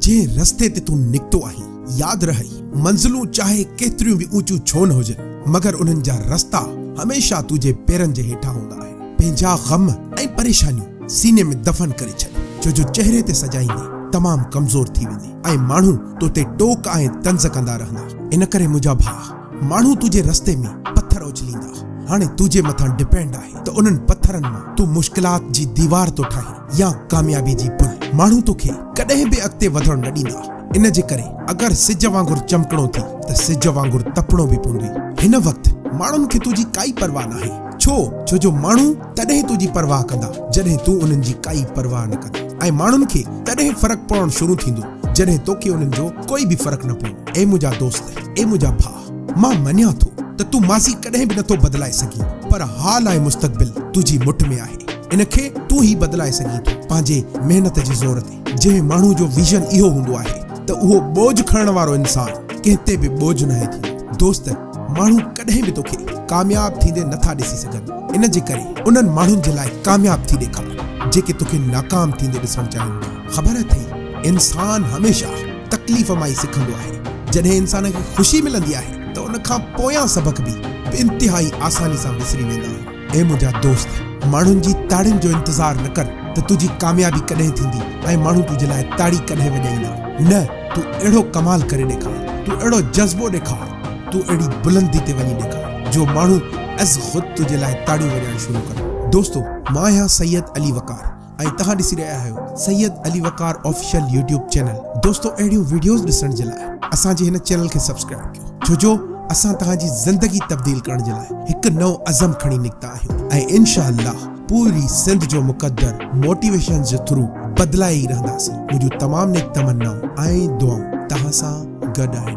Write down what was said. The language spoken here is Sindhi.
جنهن رستي تي تون نڪتو آهين، ياد رهئي، منزلون چاهي ڪيتريون به اوچيون ڇو نه هجن، مگر انهن جا رستا هميشه تنهنجي پيرن جي هيٺان هوندا آهن. پنهنجا غم ۽ پريشانيون سيني ۾ دفن ڪري ڇڏ، ڇو جو چهري تي سجائيندي تمام ڪمزور ٿي ويندين ۽ ماڻهو تو تي ٽوڪ ۽ طنز ڪندا رهندا. ان ڪري منهنجا ڀاء، ماڻهو تنهنجي رستي ۾ پٿر اڇليندا، هاڻي تنهنجي مٿان ڊپينڊ آهي ته انهن پٿرن مان تون مشڪلات جي ديوار ٿو ٺاهين، يا ڪاميابي جي پل. ماڻهو توکي ڪڏهن به اڳتي وڌڻ نه ڏيندا. ان جي ڪري اگر سج وانگر چمڪڻو ٿي ته سج وانگر تپڻو به پوندوئي. هن وقت ماڻهن کي تنهنجي ڪائي پرواهه ناهي. ڇو؟ ڇو جو ماڻهو تڏهن تنهنجي پرواهه ڪندا جڏهن تون انهن جي ڪائي پرواهه نه ڪندين ۽ ماڻهن کي تڏهن فرق پوڻ شروع ٿيندو جڏهن توکي انهن جو ڪوئي به فرق نه پوندو. اي منهنجا دوست! اي منهنجا ڀاء! مان مڃان ٿو ته تون ماضي ڪڏهن به نٿو بدلائي سگهين پر حال ۽ مستقبل تنهنجي مٺ ۾ آهي ان کي تون ئي بدلائي سگهين ٿو پنهنجي محنت جي زور تي جنهن ماڻهو جو ويزن اهو هوندو آهي ته اهو ٻوجهه کڻڻ وارو انسان ڪنهن تي به ٻوجهه ناهي ٿيندو دوست ماڻهو ڪڏهن به توکي ڪامياب ٿيندي نٿا ڏسي سگهن ان جي ڪري انهن ماڻهن جي لاء ڪامياب ٿي ڏيکار جيڪي توکي ناڪام ٿيندي ڏسڻ چاهين ٿا خبر اٿئي انسان هميشه تڪليف مان ئي سکندو آهي. جڏهن انسان کي خوشي ملندي آهي ته ان کان پويان سبق به انتهائي آساني سان وسري ويندا آهن. اي منهنجا دوست! ماڻهن جي تاڙين جو انتظار نه ڪر ته تنهنجي ڪاميابي ڪڏهن ٿيندي ۽ ماڻهو تنهنجي لاء تاڙي ڪڏهن وڄائيندا. نه، تون اهڙو ڪمال ڪري ڏيکار، تون اهڙو جذبو ڏيکار، تون اهڙي بلندي تي وڃي ڏيکار جو ماڻهو از خود تنهنجي لاء تاڙيون وڄائڻ شروع ڪن. دوستو! مان آهيان سيد علي وقار. ۽ توهان ڏسي رهيا آهيو Syed Ali Waqar official YouTube channel دوستو اهڙيون ويڊيوز ڏسڻ جي لاء اسان جي هن چينل کي سبسڪرائيب ڪيو ڇو جو اسان توهان جي زندگي تبديل ڪرڻ جي لاء هڪ نئون عزم کڻي نڪتا آهيون ۽ انشاء الله پوري سنڌ جو مقدر موٽيويشنز جي ٿرو بدلائي ئي رهنداسين منهنجون تمام نيڪ تمنائون ۽ دعائون توهان سان گڏ آهن.